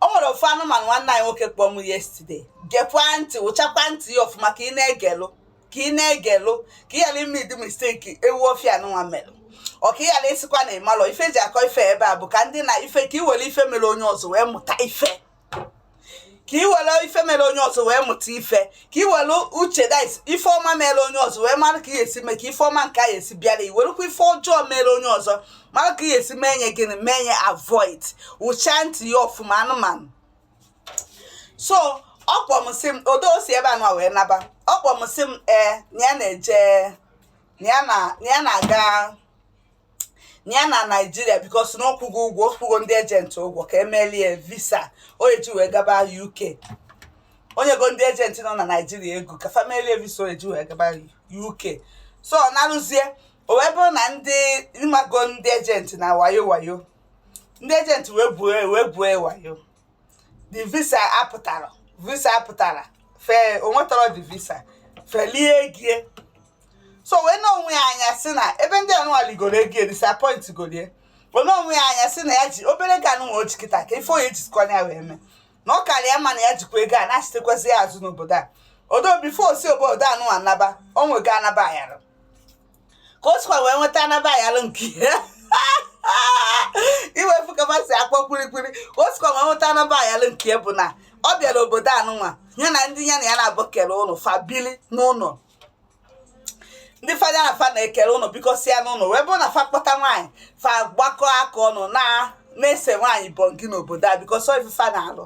o nwere ofu anụmanụ nwanne anyị nwoke kpọọ m yesterday gekwa ntị wụchakwa ntị ya ọfụma ka ị na-egelụ ka ị na-egelụ ka ị ghara ime ụdị mistake ewu ọfịa anụnwa melụ ọ ka ị ghara ịsịkwa na ị marọ ife e ji akọ ife ebe a bụ ka ndị na ife ka ị were ife mere onye ọzọ wee mụta ife ka ị were ife mere onye ọzọ wee mụta ife ka ị were uche dit ife ọma mere onye ọzọ wee mara ka ị esi mee ka ife ọma nke anyị esi bịara i werekwa ife ọjọọ mere onye ọzọ mara ka ị esi mee nye gịnị mee nye avoid wụcha ntị ya ọfụma anụmanụ so ọ kpọọ m sị m odo o si ebe a nwa wee naba ọ kpọọ m sị m ee na ya na-eje na ya na-aga na ya na naijiria because na ọ kwụgo ụgwọ ọ kwụgo ndị agent ụgwọ ka e melie visa ọ ya-eji wee gaba uk o nyego ndị agent nọ na naijiria ego ka fa melie visa ọ ya-eji wee gaba uk so ọ narụzie o wee bụrụ na ndị ị mago ndị agent na wayo wayo ndị agent wee gwue wee gwue wayo the visa apụtarọ visa apụtarọ fe o nwetarọ the visa fa elie ego ie so wee nee onwe ya anya sị na ebe ndị anụwa ligoro ego ie disappoint golie wee nee onwe ya anya sị na ya ji obere ego anụnwa o ji kịta ka ife ọ ya-ejikwa ya wee mee na ọ karịa mma na ya jikwa ego a nachitekwazi ya azụ n'obodo a ọdọ before si obodo anụwa naba o nwego anaba ayara ka o sikwa wee nweta anaba ayalụ nke ya iwefu ka masị akpọ kwirikwiri ka o sikwa wee nweta anaba ayalụ nke ya bụ na ọ bịara obodo anụnwa ya na ndị ya na ya na-abụ kere ụlọ fa bili n'ụlọ ndị fada na fa na-ekere ụlọ bikọsịa n'ụlọ wee bụrụ na fa kpọta nwaanyị fa gbakọ aka ọnụ na na-ese nwaanyị bọngi n'obodo a because ife fa na-alụ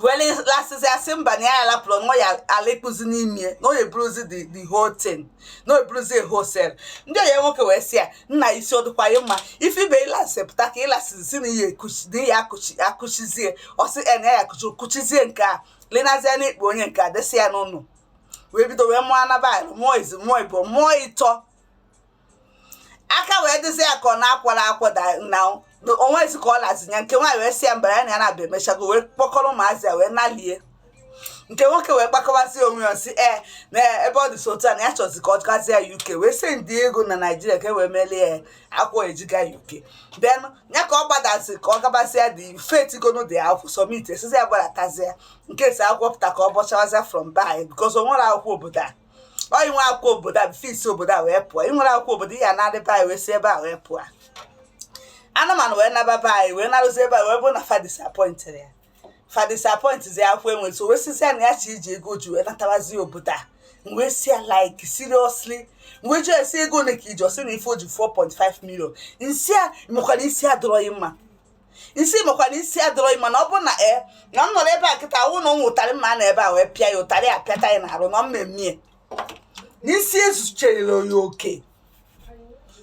wee lasịzi a sị mba na ya alapụrụ nwa ya ala ịkpụzi n'ime na onye bụrụzi the the whole thing na onye bụrụzi hustle ndị ọyị ya nwoke wee sị ya nna isi ọ dịkwa ya mma ife ibe ịlasị pụta ka ị lasị sị na ihe na ihe akụchizie ọ sị na ya akụchi kụchizie nke a lenazie na ikpe onye nke a desị ya n'ụlọ wee bido wee mụọ anaba ayalụ mụọ izi mụọ ịbọọ mụọ ịtọ aka wee dịzi ya ka ọ na-akwara akwa na o nwezi ka ọ lazi ya nke nwaanyị wee sị ya mbara ya na ya na-abịa emechago wee kpọkọrọ ụmụazị ya wee nalie nke nwoke wee gbakọbazi onwe ya sị ee na ebe ọ dị so otu a na ya chọzi ka ọ gazie ya uk wee sendie ego na naijiria ka e wee melie ya akwụkwọ e ji aga uk then ya ka ọ gbadazi ka ọ gabazie dị fetigono dị akwụkwọ submit esizi ya gbaratazie nke si akwụkwọ pụta ka ọ bọchawazie from ebe a because o nwere akwụkwọ obodo a ọ i nwee akwụkwọ obodo a fis obodo a wee pụọ i nwerọ akwụkwọ obodo ihe na-adịba anyị wee si ebe a wee pụọ anụmanụ wee naba be anyị wee narụzi ebe a wee bụ na fa disappointịrị ya fa disappointịzi akwụkwọ enwe so wee sịzi ya na ya chọ iji ego ji wee natabazi obodo a wee sị ya like seriously wee jụọ ya sị ego ole ka i ji ọ sị na ife o ji 4.5 million m sị ya makwara isi adịrọ ghị mma isi makwa na isi adịrọ ị mma na ọ bụ na ee na m nọrọ ebe a kịta awụ na ụmụ ụtarị mma na ebe a wee pịa ya ụtarị apịata ya n'arụ na mmemme ya isi ezucharọ ya oke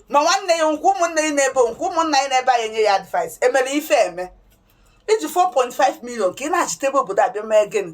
ma nwanne ya nọkwa ụmụnne ya n'ebe nọkwa ụmụnna ya n'ebe anyị enye ya advice emere ife eme i ji 4.5 million ka ị na-achịta ebe obodo a bịa mee gịnị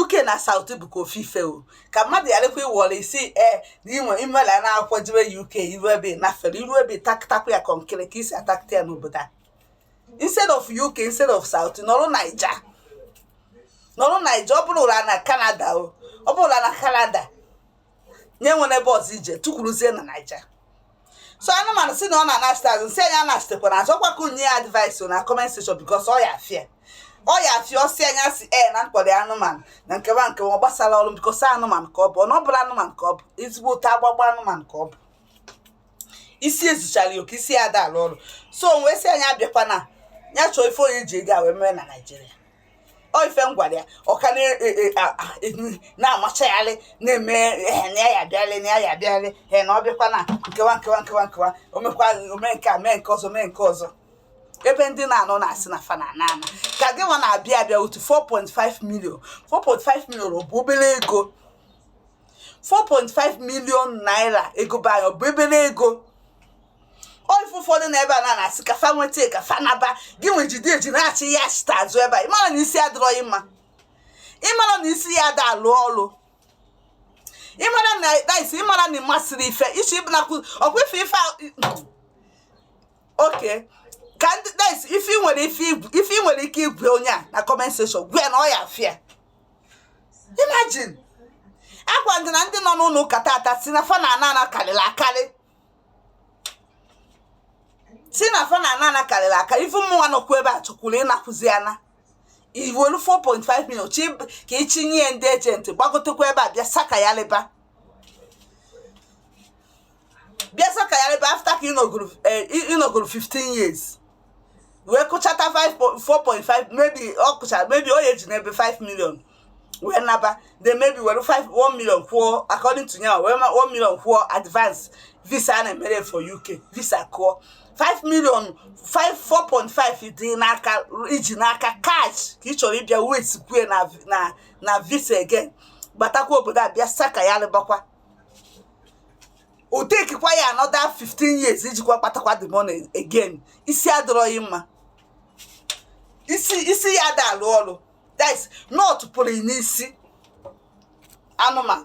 uk na south bụkwa ofu ife o ka mmadụ gharakwa ịwọrọ isi ee na inwe i mela na akwụkwọ jebe uk i ru ebe ị nafere i ru ebe ị taktakwa ya kọnkịrị ka i si atakta ya n'obodo a instead of uk instead of south nọrọ naija nọrọ naija ọ bụrụrọ na canada o ọ bụrụrọ na canada enwerọ ebe ọzọ ị je tukwuruzie na naija so anụmanụ si na ọ na-anachite azụ m sị nya anachitekwana azụ ọkwa ka unu nye ya advice na comment section because ọ ya afịa ọ ya afịa ọ sị nya si e na m kpọrọ anụmanụ na nke a nke a ọ gbasarọ m because anụmanụ ka ọ bụ ọ na ọ bụla anụmanụ ka ọ bụ ezigbo ụta agbagba anụmanụ ka ọ bụ isi ezucharọ ya oke isi ya ada alụ ọrụ so wee sị nya abịakwana ya chọọ ife ọ ya-eji ego a wee mee na nigeria ife m gwara ya ọ ka na-amachagharị e, e, na-eme eh, na ya abịarị na ya abịarị he eh, na ọ bịakwa na nke a nke a nke a nke a o mekwa o mee nke a mee nke ọzọ mee nke ọzọ ebe ndị na-anọ na-asị na fa na-ana ka gị nwa na-abịa abịa with 4.5 million 4.5 million ọ bụ obele ego 4.5 million naira ego be anyị ọ bụ obele ego o ị fụ ụfọdụ nọ ebe a na na-asị ka fa nweta ka fa naba gị nwa jide ego na-achị ya chita azụ ebe a ị mara na isi adịrọ gị mma ị mara na isi ya ada alụ ọlụ ị mara na isi ị mara na ị masịrọ ife ichi ị bụnakwu ọkwa ife ife okay ka ndị dis ife nwere ife ife nwere ike ịgwa onye a na comment section gwa ya na ọ ya afịa imagine agwa ndị na ndị nọ na uk tata si na fa na-ana ana karịrị akarị si na fa na-ana ana karịrị aka even mụnwa nọkwu ebe a chọkwuru ịnakwuzi ana i welu 4.5 million chị ka ị chịnye ndị agent gbagotekwa ebe a bịa saka ya labour bịa saka ya labour after ka ị nọgoro 15 eh, years wee kụchata 4.5 maybe ọ kụcha maybe ọ ya eji maybe 5 million wee naba then maybe were 5 1 million kwụọ according to nya nwa wee ma 1 million kwụọ advance visa a na-emere for uk visa kwụọ 5 million 5 4.5 dị n'aka i ji n'aka cash ka ị chọrọ ịbịa wastekwue na na na visa again gbatakwa obodo a bịa saka ya labour kwa ọ takekwa ya another 15 years ijikwa kpatakwa the money again isi adịrọ gị mma isi isi ya ada alụ ọrụ that is nut pụrụ n'isi anụmanụ